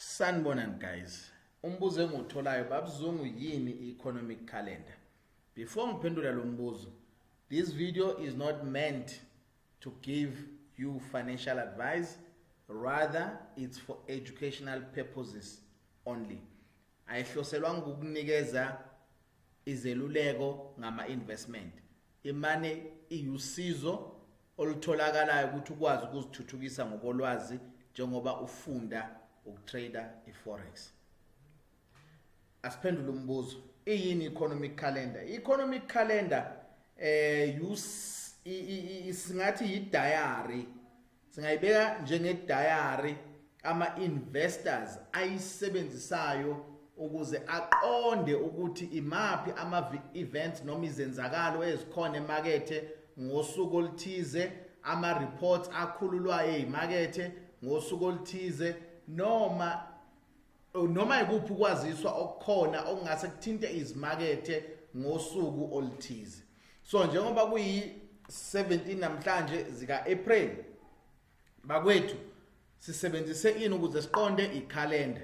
Sanibonani guys. Umbuzo engiwutholayo babuzungu yini i-economic calendar? Before ngiphendula lo mbuzo, this video is not meant to give you financial advice, rather it's for educational purposes only. Ayihloselwanga ukukunikeza izeluleko ngama-investment. Imane iwusizo olutholakalayo ukuthi ukwazi ukuzithuthukisa ngokolwazi njengoba ufunda ukutrader iforex asiphendule umbuzo iyini economic calendar economic calendar eh singathi yi diary singayibeka njenge diary ama-investors ayisebenzisayo ukuze aqonde ukuthi imaphi ama-events noma izenzakalo ezikhona emakethe ngosuku oluthize ama-reports akhululwayo eyimakethe ngosuku oluthize noma noma ikuphi ukwaziswa okukhona okungase kuthinte izimakethe ngosuku oluthize so njengoba kuyi-17 namhlanje zika-april bakwethu sisebenzise ini ukuze siqonde ikhalenda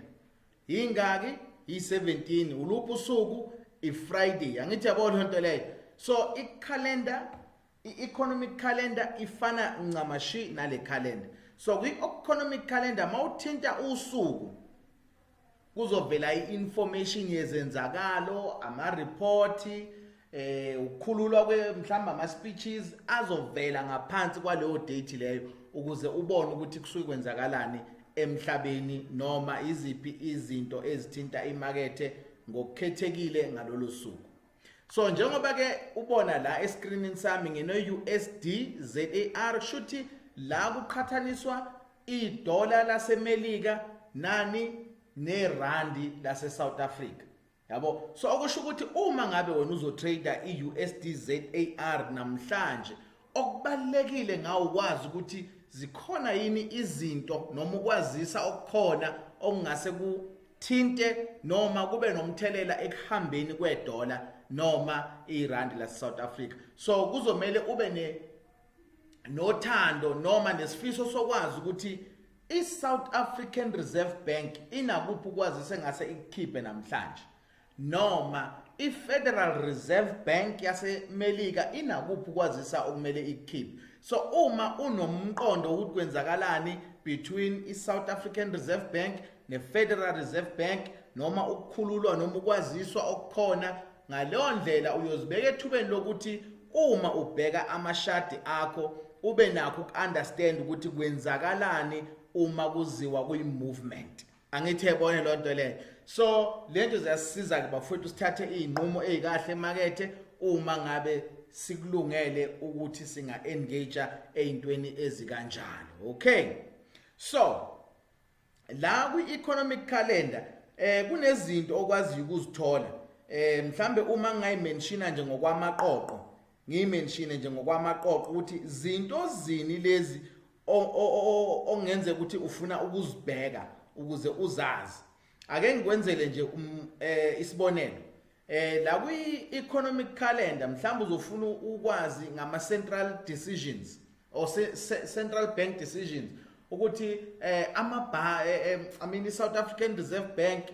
yingaki yi-17 uluphi usuku i-friday angithi yabo loo nto leyo so ikhalenda i-economic calendar ifana ncamashi nale calendar so kwi-economic calendar mawuthinta usuku kuzovela i-information yezenzakalo amaripoti eh ukukhululwa kwe mhlamba ama speeches azovela ngaphansi kwaleyo date leyo ukuze ubone ukuthi kusuke kwenzakalani emhlabeni noma iziphi izinto ezithinta imakethe ngokukhethekile ngalolu suku so njengoba ke ubona la escreenini sami ngino USD ZAR shuthi la kuqhathaniswa idola laseMelika nani nerandi lase South Africa yabo so okusho ukuthi uma ngabe wena uzotrader iUSD ZAR namhlanje okubalekile ngawo ukwazi ukuthi zikhona yini izinto noma ukwazisa okukhona okungase kuthinte noma kube nomthelela ekuhambeni kwedola noma irandi lase South Africa so kuzomele ube ne nothando noma nesifiso sokwazi ukuthi i-South African Reserve Bank inakuphi ukwazise ngase ikukhiphe namhlanje noma i-Federal Reserve Bank yaseMelika inakuphi ukwazisa okumele ikukhiphe so uma unomqondo ukuthi kwenzakalani between i-South African Reserve Bank ne-Federal Reserve Bank noma ukukhululwa noma ukwaziswa okukhona Ngaleyo ndlela uyozibeka ethubeni lokuthi uma ubheka amashadi akho ube nakho ukunderstand ukuthi kwenzakalani uma kuziwa kuyi-movement angithi ebone loo nto leyo so le nto ziyasisiza-ke bafowethu sithathe iy'nqumo ey'kahle emakethe uma ngabe sikulungele ukuthi singa-engage ey'ntweni ezikanjalo okay so la kwi-economic calendar eh kunezinto okwaziyo ukuzithola eh mhlambe uma ngayimenshina nje ngokwamaqoqo ngiyimenshine nje ngokwamaqoqo ukuthi zinto zini lezi ongenze ukuthi ufuna ukuzibheka ukuze uzazi ake ngikwenzele nje um, eh, isibonelo Eh la kwi economic calendar mhlawumbe uzofuna ukwazi ngama central decisions or se, se, central bank decisions ukuthi eh ama eh, eh, I mean i South African Reserve Bank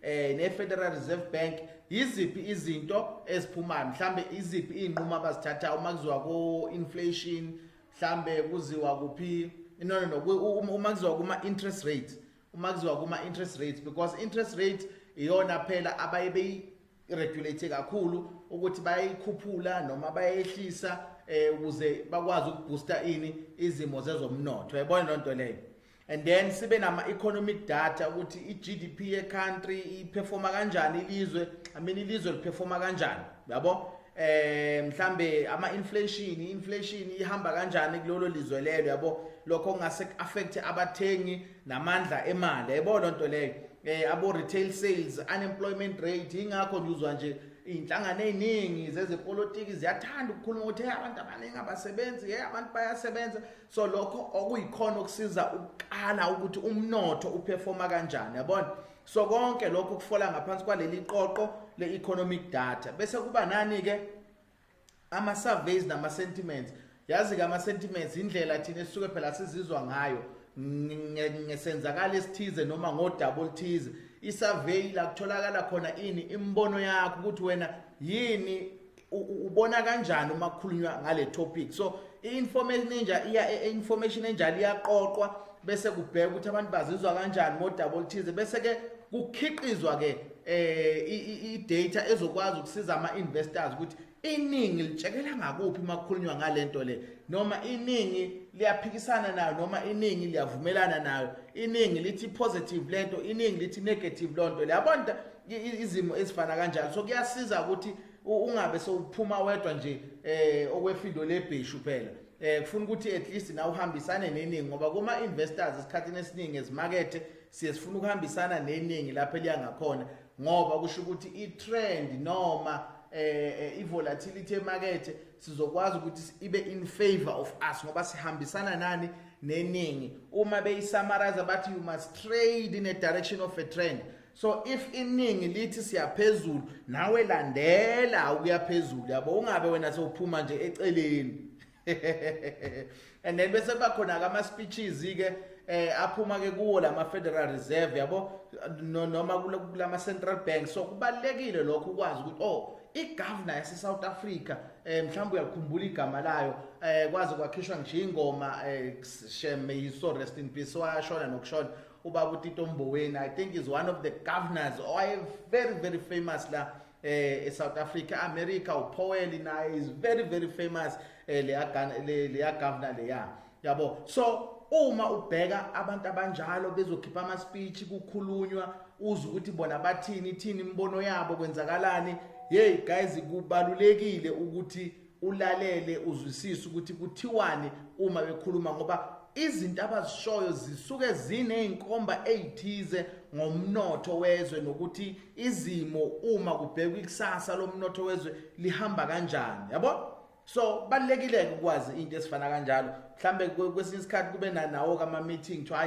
eh ne Federal Reserve Bank yiziphi izinto eziphumayo mhlambe iziphi izinqumo abazithatha uma kuziwa ku inflation mhlambe kuziwa kuphi no no no uma kuziwa kuma interest rate uma kuziwa kuma interest rates because interest rate iyona phela abaye beyi regulate kakhulu ukuthi bayikhuphula noma bayehlisa eh ukuze bakwazi ukubooster ini izimo zezomnotho yabona lonto leyo and then sibe nama economic data ukuthi i GDP ye country i performa kanjani ilizwe i mean ilizwe li performa kanjani yabo eh mhlambe ama inflation inflation ihamba kanjani kulolo lizwe lelo yabo lokho ngase affect abathengi namandla emali yabo lonto leyo eh abo retail sales unemployment rate ingakho ngizwa nje inhlangano eziningi zezepolitiki ziyathanda ukukhuluma ukuthi hey abantu abaningi abasebenzi hey abantu bayasebenza so lokho okuyikhona okusiza ukukala ukuthi umnotho uperforma kanjani yabona so konke lokho kufola ngaphansi kwaleli qoqo le-economic data bese kuba nani-ke ama-surveys nama-sentiments yazi-ke ama-sentiments indlela thina esisuke phela sizizwa ngayo ngesenzakalo esithize noma ngodaba oluthize i-survey la kutholakala khona ini imibono yakho ukuthi wena yini ubona kanjani uma kukhulunywa ngale topic so i-information enja iya e, e, information enjalo iyaqoqwa bese kubheka ukuthi abantu bazizwa kanjani ngodaba oluthize bese ke kukhiqizwa ke eh i-data ezokwazi ukusiza ama-investors ukuthi iningi litshekela ngakuphi uma kukhulunywa ngale nto le noma iningi liyaphikisana nayo noma iningi liyavumelana nayo iningi lithi positive lento iningi lithi negative lonto leyabona izimo ezifana kanjalo so kuyasiza ukuthi ungabe sewuphuma wedwa nje eh okwefindo lebheshu phela eh kufuna ukuthi at least na uhambisane neningi ngoba kuma investors esikhathini esiningi ezimakethe siye sifuna ukuhambisana neningi lapho eliya ngakhona ngoba kusho ukuthi i trend noma eh, eh i volatility emakethe sizokwazi ukuthi ibe in favor of us ngoba sihambisana nani neningi uma beyisamarize bathi you must trade in a direction of a trend so if iningi lithi siyaphezulu nawe landela ukuyaphezulu yabo ungabe wena sewuphuma nje eceleni and then bese bakhona ke ama speeches ke eh aphuma ke kuwo lama Federal Reserve yabo noma kulama central bank so kubalekile lokho ukwazi ukuthi oh igovernor yase South Africa eh mhlawumbe uyakhumbula igama layo eh kwaze kwakhishwa nje ingoma eh shem may you so rest in peace washona nokushona ubaba utito mboweni i think is one of the governors owaye very very famous la eh eSouth Africa America uPowell naye is very very famous eh leya leya governor leya yabo so uma ubheka abantu abanjalo bezokhipha ama speech kukhulunywa uze ukuthi bona bathini ithini imibono yabo kwenzakalani hey guys kubalulekile ukuthi ulalele uzwisise ukuthi kuthiwani uma bekhuluma ngoba izinto abazishoyo zisuke zinezinkomba ezithize ngomnotho wezwe nokuthi izimo uma kubhekwa ikusasa lomnotho wezwe lihamba kanjani yabo so balekile ukwazi into esifana kanjalo mhlambe kwesinye isikhathi kube nanawo kama meeting kuthiwa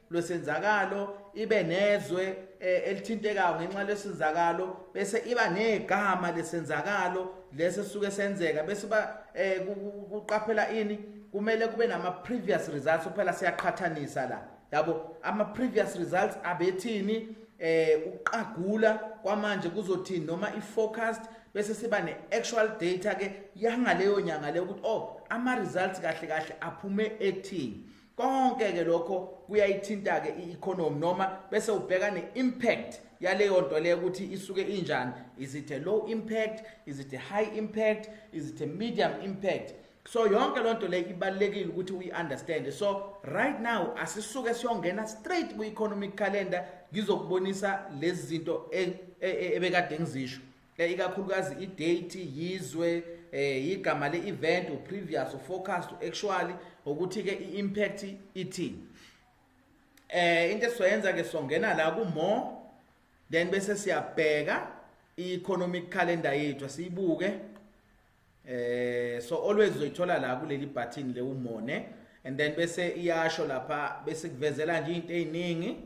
lwesenzakalo ibe nezwe eh, elithintekayo ngenxa lesenzakalo bese iba negama lesenzakalo lese suke senzeka bese ba eh, kuqaphela ini kumele kube nama previous results kuphela siyaqhathanisa la yabo ama previous results abethini eh uqagula kwamanje kuzothini noma i forecast bese siba ne actual data ke yangaleyo nyanga le ukuthi oh ama results kahle kahle aphume ethini konke ke lokho kuyayithinta ke i-economy noma bese ubheka ne-impact yaleyo nto leyo ukuthi isuke injani is it a low impact is it a high impact is it a medium impact so yonke loo nto leyo ibalulekile ukuthi uyi-understande so right now asisuke siyongena straight kwi-economic calendar ngizokubonisa lezi zinto e, e, e, ebekade ngizisho eh, ikakhulukazi idate yizwe eh igama le-event uprevious uforecast uactually ukuthi-ke i-impact ithini eh into esizoyenza ke songena la ku-more then bese siyabheka i-economic calendar yethu siyibuke eh so always uzoyithola la kuleli button le umone and then bese iyasho lapha bese kuvezela nje into eziningi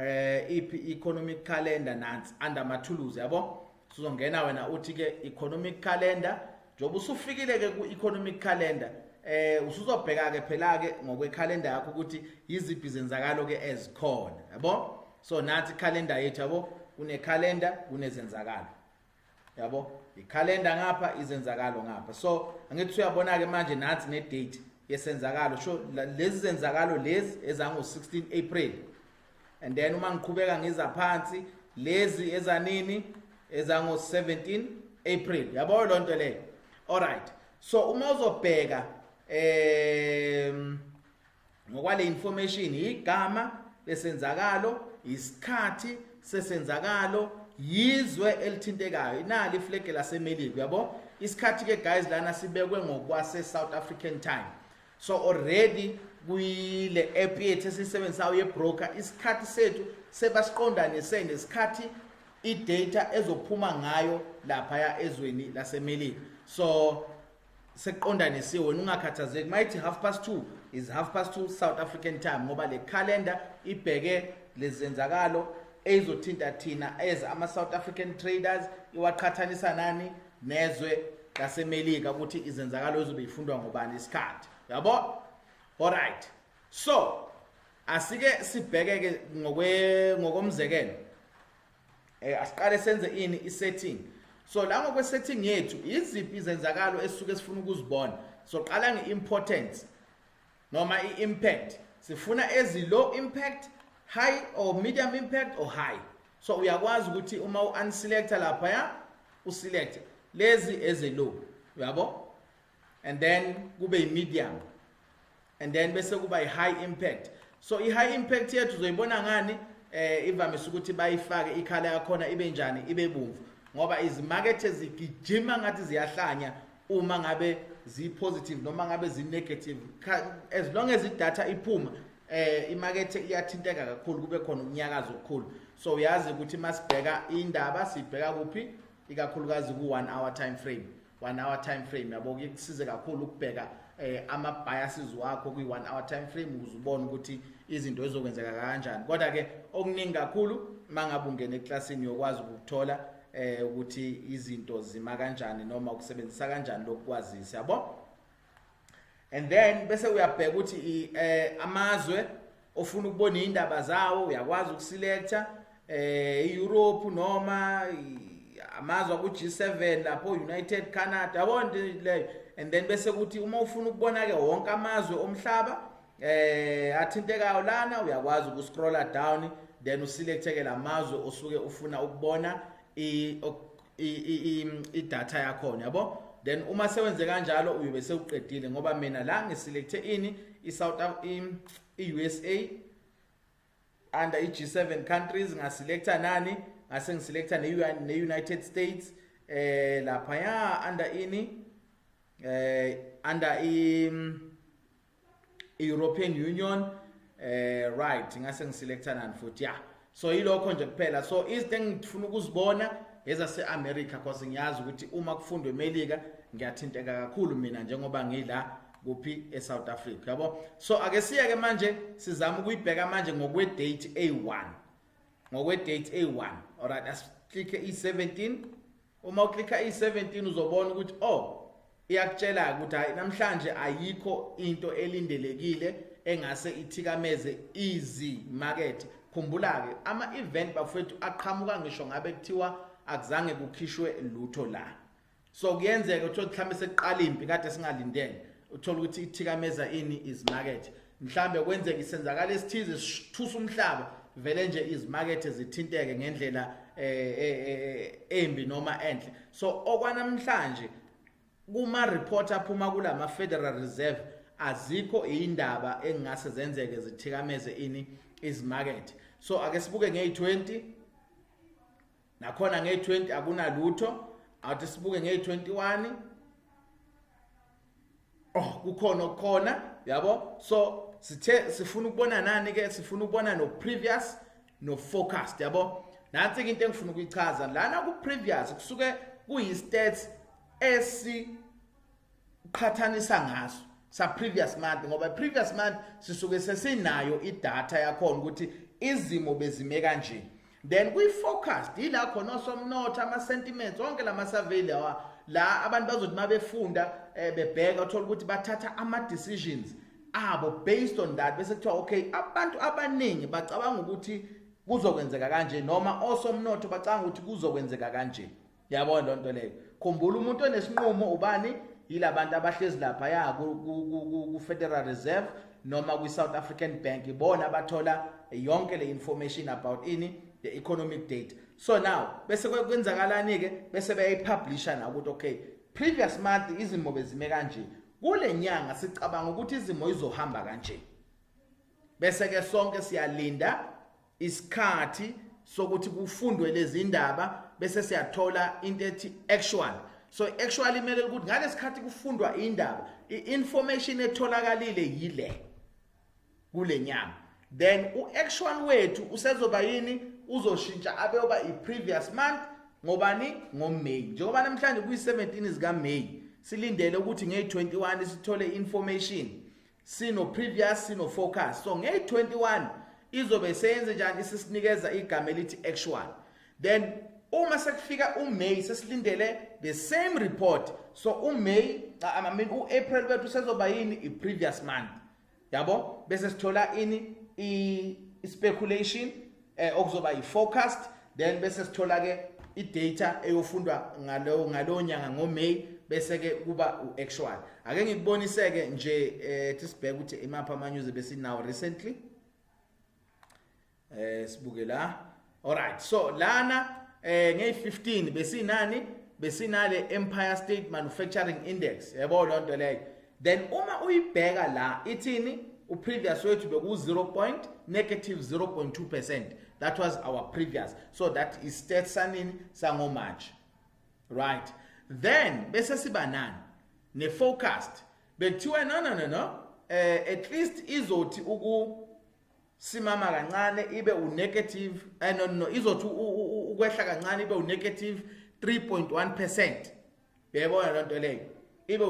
eh iphi economic calendar nansi under amathuluzi yabo sizongena wena uthi ke economic calendar njengoba usufikile ke ku economic calendar eh usuzobheka ke phela ke ngokwe calendar yakho ukuthi yiziphi zenzakalo ke ezikhona yabo so nathi calendar yethu yabo kune calendar kunezenzakalo yabo ikhalenda ngapha izenzakalo ngapha so angithi uyabona-ke manje nathi ne-date yesenzakalo sho lezi zenzakalo lezi ezango-16 april and then uma ngiqhubeka ngiza phansi lezi ezanini ezango-17 april yabo loo nto leyo allright so uma uzobheka um ngokwale information igama lesenzakalo isikhathi sesenzakalo yizwe elithintekayo inali iflege lasemelika uyabo isikhathi ke guys lana sibekwe ngokwase South African time so already kuyile app yethu esisebenzisayo yebroker isikhathi sethu sebasiqondanise nesikhathi idata ezophuma ngayo lapha ya ezweni lasemelika so sekuqondanisiwe wena ungakhathazeki mayithi half past two is half past two south african time ngoba le calendar ibheke lezenzakalo eyizothinta thina as ama-south african traders iwaqhathanisa nani nezwe lasemelika ukuthi izenzakalo ezobe ifundwa ngobani isikhathi yabo alright so asike sibheke-ke ngokomzekelo eh asiqale senze ini isetting so la ngokwe setting yethu iziphi izenzakalo esuke sifuna ukuzibona so qala ngeimportance noma iimpact sifuna ezi low impact high or medium impact or high so uyakwazi ukuthi uma u-unselecta lapha ya uselect lezi eze low uyabo and then kube i-medium and then bese kuba i-high impact so i-high impact yethu uzoyibona ngani eh ivamise ukuthi bayifake ikhala yakhona ibe njani ibe bomvu ngoba izimakethe zigijima ngathi ziyahlanya uma ngabe ziyi-positive noma ngabe ziyi-negative as long as idatha iphuma eh imakethe iyathinteka kakhulu kube khona ukunyakaza okukhulu so uyazi ukuthi masibheka indaba sibheka kuphi ikakhulukazi ku-one hour time frame one hour time frame yabo ke kusize kakhulu ukubheka eh, ama biases wakho kwi one hour time frame ukuze ubone ukuthi izinto ezokwenzeka kanjani kodwa ke okuningi kakhulu mangabe ungena eclassini yokwazi ukuthola eh ukuthi izinto zima kanjani noma ukusebenzisa kanjani lokwazisa yabo and then bese uyabheka ukuthi eh amazwe ofuna ukubona indaba zawo uyakwazi ukuselecta eh iEurope noma amazwe ku G7 lapho United Canada yabona leyo and then bese kuthi uma ufuna ukubona ke wonke amazwe omhlaba eh athintekayo lana uyakwazi ukuscrolla down then uselecteke lamazwe osuke ufuna ukubona i idatha yakhona yabo then uma sewenze kanjalo uyobe sewuqedile ngoba mina la ngiselecte ini i-south i-usa under i-g7 countries ngaselecta nani ngase ngiselecta ne-united states eh laphaya under ini eh under i European Union eh right ngase ngiselectanani futhi yeah so yilokho nje kuphela so izinto engifuna ukuzibona ezase America because ngiyazi ukuthi uma kufundwa eMelika ngiyathinteka kakhulu mina njengoba ngila kuphi eSouth Africa yabo so ake siye ke manje sizama ukuyibheka manje ngokwe date A1 ngokwe date A1 alright asiclick i17 uma uklikha i-17 uzobona ukuthi o oh, iyakutshela-ke ukuthi hhayi namhlanje ayikho into elindelekile engase ithikameze izimakethe khumbula-ke ama-event bafowethu aqhamuka ngisho ngabe kuthiwa akuzange kukhishwe lutho la so kuyenzeka uthole mhlawumbe sekuqala impi kade singalindele uthole ukuthi ithikameza ini izimakethe mhlambe kwenzeka isenzakala esithize sithusa umhlaba vele nje izimakethe zithinteke ngendlela eh, eh, eh, embi noma enhle so okwanamhlanje kuma report aphuma kulama Federal Reserve azikho indaba engase zenzeke zithikameze ini izimakethe so ake sibuke ngeyi20 nakhona nge-20 akunalutho awuthi sibuke nge-21 oh kukhona okukhona yabo so sithe sifuna ukubona nani ke sifuna ukubona no previous no forecast yabo nansi ke into engifuna ukuyichaza lana ku previous kusuke kuyi stats esi qhathanisa ngaso sa previous month ngoba previous month sisuke sesinayo idata yakhona ukuthi izimo bezime kanje then kwi forecast ila khona osomnotho ama sentiments onke lama survey lawa la abantu bazothi mabefunda eh, bebheka uthola ukuthi bathatha ama decisions abo based on that bese kuthiwa okay abantu abaningi bacabanga ukuthi kuzokwenzeka kanje noma osomnotho bacanga ukuthi kuzokwenzeka kanje yabona loo nto leyo khumbula umuntu onesinqumo ubani yilabantu abahlezi lapha ya ku-federal reserve noma kwi-south african bank ibona abathola yonke le information about ini the economic data so now bese kwenzakalani-ke bese beyayipublisha na ukuthi okay previous month izimo bezime kanje kule nyanga sicabanga ukuthi izimo izohamba kanje bese-ke sonke siyalinda isikhathi sokuthi kufundwe lezi ndaba bese siyathola into ethi actual so actually imele ukuthi ngalesikhathi kufundwa indaba i-information etholakalile yile kule nyama then u-actual wethu usezoba yini uzoshintsha abeyoba i-previous month ngobani ngoMay njengoba namhlanje kuyi-17 zikaMay silindele ukuthi ngeyi-21 sithole information sino previous sino focus so ngeyi 21 izobe seyenze njani isisinikeza igama elithi actual then uma sekufika uMay sesilindele the same report so uMay I mean uApril bethu sezoba yini iprevious month yabo bese sithola ini i speculation eh okuzoba yi forecast then bese sithola ke i data eyofundwa ngalo ngalo nyanga ngo May bese ke kuba u actual ake ngikuboniseke nje eh tisibheke ukuthi imapha ama news besinawo recently eh sibuke la alright so lana eh ngey 15 besinani besinale Empire State Manufacturing Index yabo lonto leyo then uma uyibheka la ithini uprevious wethu beku-0 point negative 0.2 percent that was our previous so that is state sanini sangomarch right then bese siba nani ne-forecast bekuthiwa no no no no eh at least izothi uku simama kancane ibe unegative eh no no izothi ukwehla kancane ibe unegative 3.1% uyayibona loo nto leyo ibe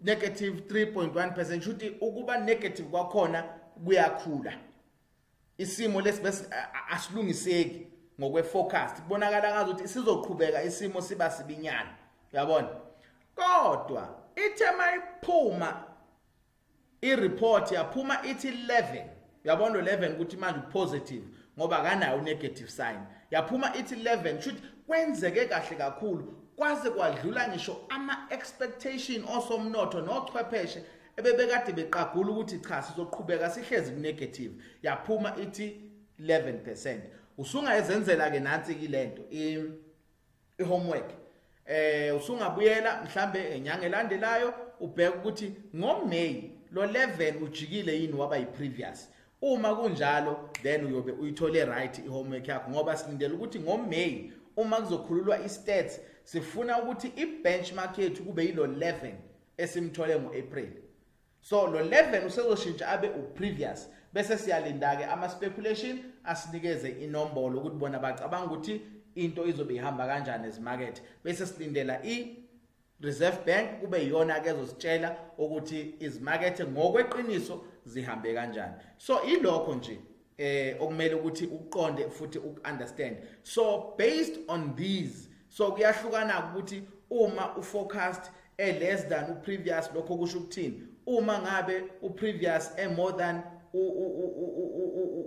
negative 3.1 percent shuthi ukuba negative kwakhona kuyakhula isimo lesi bese asilungiseki ngokweforecast kubonakala ngazi ukuthi sizoqhubeka isimo siba sibinyana uyabona kodwa ithe mayiphuma ireport yaphuma ithi 11 uyabona 11 ukuthi manje upositive ngoba akanayo unegative sign yaphuma ithi 11 kushuthi kwenzeke kahle kakhulu kwaze kwadlula ngisho ama expectation osomnotho nochwepheshe ebebekade beqagula ukuthi cha sizoqhubeka sihlezi kunegative yaphuma ithi 11% usungayezenzela ke nansi kilento ihomework eh usungabuyela mhlambe enyanga elandelayo ubheka ukuthi ngoMay lo 11 ujikile yini waba yiprevious uma kunjalo then uyobe uyithole right ihomework yakho ngoba silindele ukuthi ngoMay uma kuzokhululwa istats sifuna ukuthi ibenchmark yethu kube yilo 11 esimthole ngoApril so lo 11 usezoshintsha abe uprevious bese siyalinda-ke ama-speculation asinikeze inombolo ukuthi bona bacabanga ukuthi into izobe ihamba kanjani ezimakethe bese silindela i-reserve bank kube yiyona-ke ezositshela ukuthi izimakethe ngokweqiniso zihambe kanjani so ilokho nje eh okumele ukuthi uqonde futhi ukunderstand so based on these so kuyahlukana ukuthi uma uforecast e less than uprevious lokho kusho ukuthini uma ngabe uprevious e more than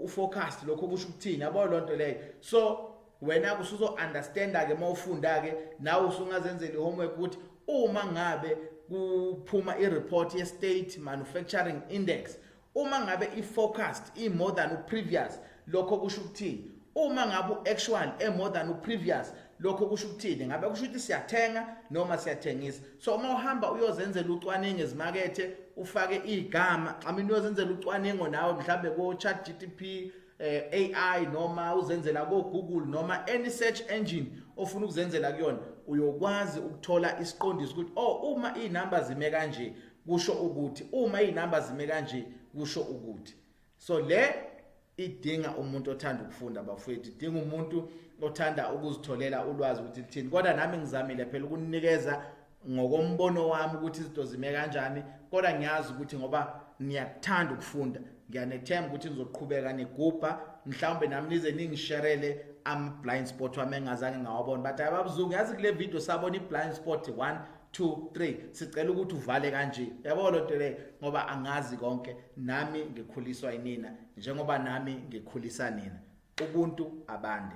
uforecast lokho kusho ukuthini yabo lonto leyo so wena kusuzo understanda ke mawufunda ke nawe usungazenzela ihomework ukuthi uma ngabe kuphuma ireport ye state manufacturing index uma ngabe i-forecast i-more than u-previous lokho kusho ukuthini uma ngabe u-actual e-more than u-previous lokho kusho ukuthini ngabe kusho ukuthi siyathenga noma siyathengisa so uma uhamba uyozenzela ucwaningo ezimakethe ufake igama i mean uyozenzela ucwaningo nawe mhlambe ko chat GTP eh, AI noma uzenzela ko Google noma any search engine ofuna ukuzenzela kuyona uyokwazi ukuthola isiqondiso ukuthi oh uma izinamba zime kanje kusho ukuthi uma izinamba zime kanje kusho ukuthi so le idinga umuntu othanda ukufunda bafowethu idinga umuntu othanda ukuzitholela ulwazi ukuthi lithini kodwa nami ngizamile phela ukunikeza ngokombono wami ukuthi izinto zime kanjani kodwa ngiyazi ukuthi ngoba niyakuthanda ukufunda ngiyanethemba ukuthi nizoqhubeka nigubha mhlawumbe nami nize ningisherele ama-blind spot wami engazange ngawabona but hayi babuzungu yazi kule video sabona i-blind spot one two three sicela ukuthi uvale kanje yabo lo nto leyo ngoba angazi konke nami ngikhuliswa inina njengoba nami ngikhulisa nina ubuntu abande